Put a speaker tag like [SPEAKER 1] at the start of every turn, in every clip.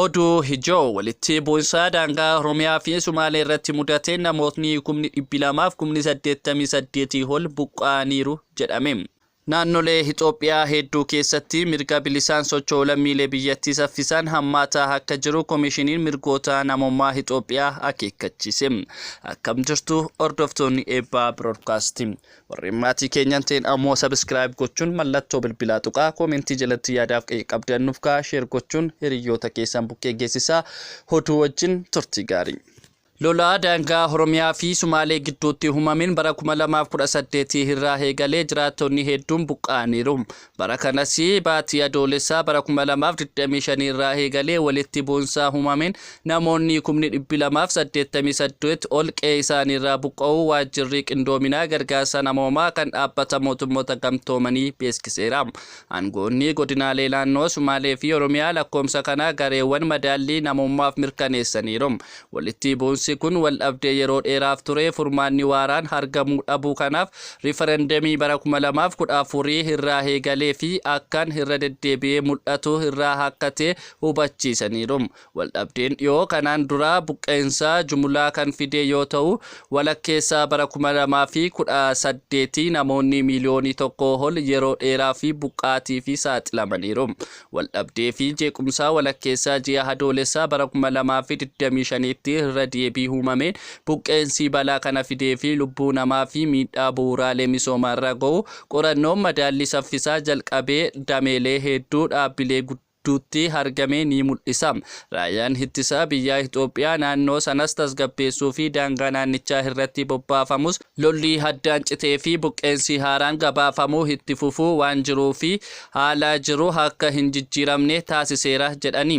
[SPEAKER 1] Oduu ijoo walitti bu'insaa daangaa Oromiyaa fi Sumaalee irratti mudateen namootni kumni dhibbi lamaaf kumni saddeettamii saddeetii ol buqqa'aniiru jedhame. Naannolee Itoophiyaa hedduu keessatti mirga bilisaan socho'u lammiilee biyyattii saffisaan hammaataa akka jiru Komishiniin Mirgoota Namoomaa Itoophiyaa akeekkachiise. Akkam jirtu hordoftoonni Eebbaa Broodkaastii. Warreen maatii keenya hin ta'in ammoo subscribe gochuun mallattoo bilbilaa tuqaa koomentii jalatti yaadaaf qeeqa qabdan nuuf kaa'aa share gochuun hiriyyoota keessan bukkee geessisaa hoduu wajjin turtii gaarii. Lola daangaa Oromiyaa fi Sumaalee gidduutti uumameen bara 2018 irraa eegalee jiraattonni hedduun buqqa'aniiru. Bara kanas baatii Adoolesaa bara 2025 irraa eegalee walitti bu'insaa humameen namoonnii kumni dhibbi 2 fi 88 ol qe'ee isaanii irraa buqqa'uu waajjirrii qindoominaa gargaarsa namoomaa kan dhaabbata mootummoota gamtoomanii beeskiseera. Aangoonnii godinaalee naannoo Sumaalee fi Oromiyaa lakkoomsa kana gareewwan madaallii namummaaf mirkaneessaniiru. Walitti bu'insi kun waldhabdee yeroo dheeraaf ture furmaanni waaraan hargamuu dhabuu kanaaf rifarandamii bara 2014 irraa heegalee fi akkan irra deddeebi'ee mul'atu irraa akka ta'e hubachiisaniiru. Waldhabdeen dhiyoo kanaan duraa buqqa'insa jumulaa kan fidee yoo ta'u, walakkeessa bara 2018 namoonni miiliyoonii tokkoo ol yeroo dheeraaf buqqaatiif saaxilamaniiru. Waldhabdee fi jeequmsaa walakkeessaa ji'a Adoolessaa bara 2025tti irra deebii uumameen buqqeensii balaa kana fidee fi lubbuu namaa fi miidhaa bu'uuraalee misoomaa irra ga'u qorannoon madaallii saffisaa jalqabee dameelee heedduu dhaabbilee gudduutti argame ni mul'isa. Raayyaan Ittisa biyyaa Itoophiyaa naannoo sanas tasgabbeessuu fi daangaa naannichaa irratti bobbaafamus, Lolli haddaan citee fi buqqeensi haaraan gabaafamu itti fufuu waan jiruu fi haala jiru akka hin jijjiiramne taasiseera jedhani.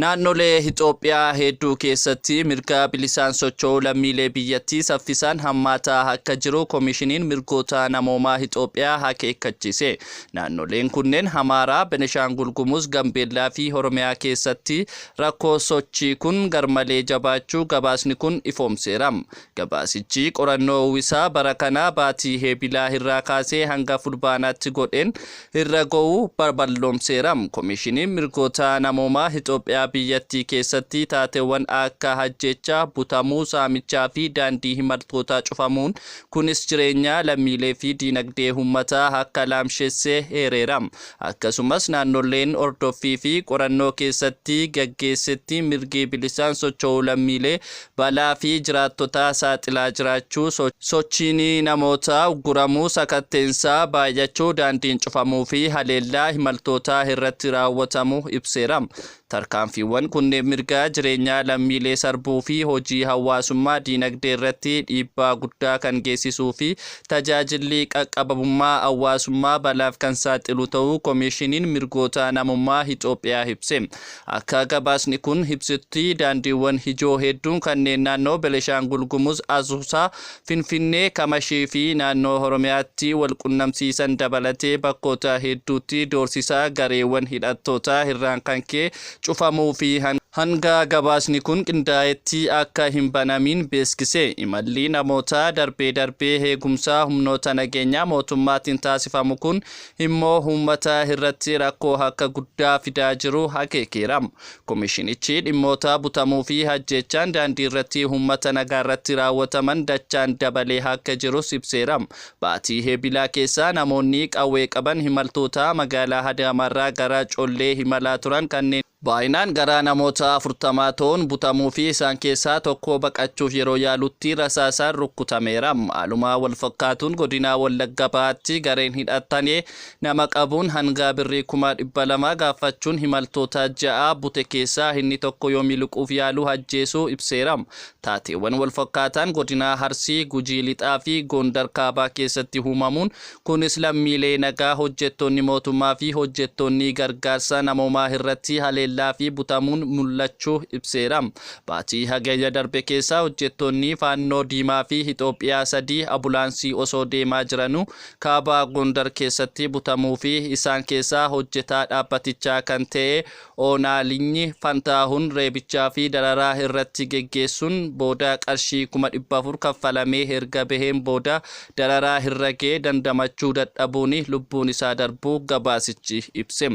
[SPEAKER 1] Naannolee Itoophiyaa hedduu keessatti mirga bilisaan socho'uu lammiilee biyyattii saffisaan hammaataa akka jiru Komishiniin Mirgoota Namoomaa Itoophiyaa akeekkachiise. Naannoleen kunneen Amaaraa, Beneshaangul Gumuz, Gambeellaa fi Oromiyaa keessatti rakkoo sochii kun garmalee jabaachuu gabaasni kun ifoomseera. Gabaasichi qorannoo uwwisaa bara kanaa baatii Heebilaa irraa kaasee hanga Fulbaanaatti godheen irra go'u balloomseera. Komishiniin Mirgoota Namoomaa Itoophiyaa biyyattii keessatti taateewwan akka ajjeechaa, butamuu, saamichaa fi daandii imaltootaa cufamuun kunis jireenya lammiilee fi diinagdee uummataa akka laamshesse eereera. Akkasumas naannoleen hordoffii fi qorannoo keessatti gaggeessetti mirgi bilisaan socho'uu lammiilee balaa fi jiraattotaa saaxilaa jiraachuu, sochiin namootaa ugguramuu, sakatteensaa baay'achuu, daandiin cufamuu fi haleellaa imaltootaa irratti raawwatamu ibseera. Tarkaanfiiwwan kunneen mirga jireenyaa lammiilee sarbuu fi hojii hawaasummaa diinagdee irratti dhiibbaa guddaa kan geessisuu fi tajaajilli qaqqabamummaa hawaasummaa balaaf kan saaxilu ta'uu Komiishiniin Mirgoota Namummaa Itoophiyaa ibse. Akka gabaasni kun ibsutti daandiiwwan ijoo hedduun kanneen naannoo Beneshaangul Gumuz Asuusaa, Finfinnee, Kamashii fi naannoo Oromiyaatti wal qunnamsiisan dabalatee bakkoota hedduutti doorsisa gareewwan hidhattootaa irraan kan ka'e cufamuu fi hanga gabaasni kun qindaa'etti akka hin banamiin beeksise. Imalli namootaa darbee darbee eegumsa humnoota nageenyaa mootummaatiin taasifamu kun immoo uummata irratti rakkoo akka guddaa fidaa jiru akeekeera. Komishinichi dhimmoota butamuu fi ajjeechaan daandii irratti uummata nagaa irratti raawwataman dachaan dabalee akka jirus ibseera. Baatii Eebilaa keessa namoonni qawwee qaban imaltoota magaalaa Adaamaarraa gara Collee imalaa turan kanneen Baayinaan gara namoota 40 ta'uun butamuu fi isaan keessaa tokko baqachuuf yeroo yaalutti rasaasaan rukkutameera. Haaluma walfakkaatuun godina Wallagga Bahaatti gareen hidhattane nama qabuun hanga birrii kuma 200 gaaffachuun himaltoota 6 bute keessaa inni tokko yoo miliquuf yaalu ajjeesuu ibseera. Taateewwan walfakkaataan godina Arsii, Gujii Lixaa fi Goondar Kaabaa keessatti huumamuun Kunis lammiilee nagaa, hojjettoonni mootummaa fi hojjettoonni gargaarsa namoomaa irratti haleellaa fi butamuun mul'achuu ibseera. Baatii Hagayya darbe keessa hojjettoonni Faannoo Diimaa fi Itoophiyaa sadii abulaansii osoo deemaa jiranuu Kaaba Gondar keessatti butamuu fi isaan keessaa hojjetaa dhaabbatichaa kan ta'e Oonaa Linyi Fantaahun reebichaa fi dararaa irratti geggeessuun booda qarshii 400,000 kaffalamee erga baheen booda dararaa irra gahe dandamachuu dadhabuun lubbuun isaa darbuu gabaasichi ibse.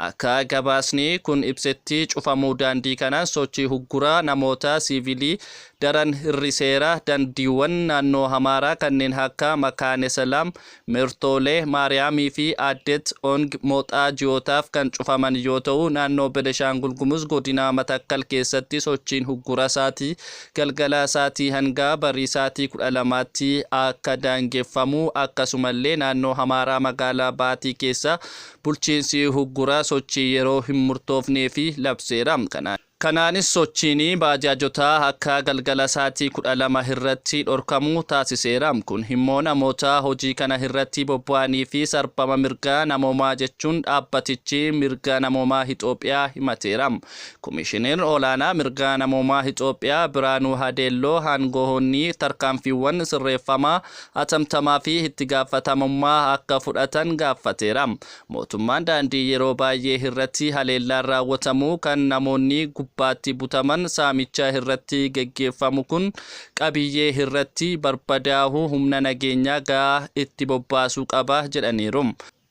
[SPEAKER 1] Akka gabaasni kun ibsetti cufamuu daandii kanaan sochii hugguraa namoota siivilii daran hir'iseera, dandiiwwan naannoo Amaaraa kanneen akka Makaane Selaam, Mertoole Maariyaamii fi Aaddeet Ong Moxaa ji'ootaaf kan cufaman yoo ta'u, naannoo Beneshaangul Gumuz godinaa Matakkal keessatti sochiin huggura sa'aati galgala sa'atii hangaa barii sa'atii 12tti akka daangeffamu akkasumallee naannoo Hamaaraa magaalaa Baatii keessa bulchiinsi huggura sochii yeroo hin murtoofneefi labseera. Kanaan. Kanaanis sochiin baajaajotaa akka galgala saatii 12:00 hirratti dhorkamu taasiseera. Kun himmoo namoota hojii kana hirratti bobba'anii fi sarbama mirga namoomaa jechuun dhaabbatichi mirga namoomaa Hixoophiyaa himateera. Komishinir olaanaa mirga namoomaa Hixoophiyaa Biraanuu Hadeelloo haangohoonni tarkaanfiiwwan sirreeffamaa atamtamaa fi ittigaafatamummaa akka fudhatan gaaffateera. Mootummaan daandii yeroo baay'ee irratti haleellaan raawwatamu kan namoonni gubbaatti butaman saamicha irratti geggeeffamu kun qabiyyee irratti barbadaahu humna nageenyaa ga'aa itti bobbaasuu qaba jedhaniiru.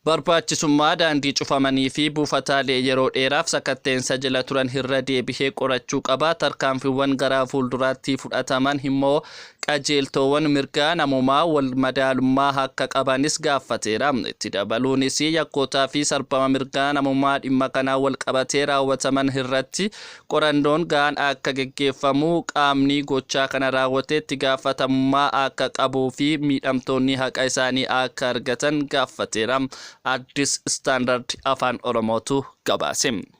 [SPEAKER 1] Barbaachisummaa daandii cufamanii fi buufataalee yeroo dheeraaf sakatteensa jela turan irra deebihee qorachuu qaba, tarkaanfiwwan garaa fuulduraatti fudhataman immoo Qajeeltoowan mirgaa namoomaa wal madaalummaa akka qabanis gaaffateera. Itti dabaluunis yakkootaa fi sarbama mirgaa namoomaa dhimma kanaan wal qabatee raawwataman irratti qorannoon gahaan akka geggeeffamu, qaamni gochaa kana raawwate itti gaafatamummaa akka qabuu fi miidhamtoonni haqa isaanii akka argatan gaaffateera. Addis Standard Afaan Oromootu gabaase.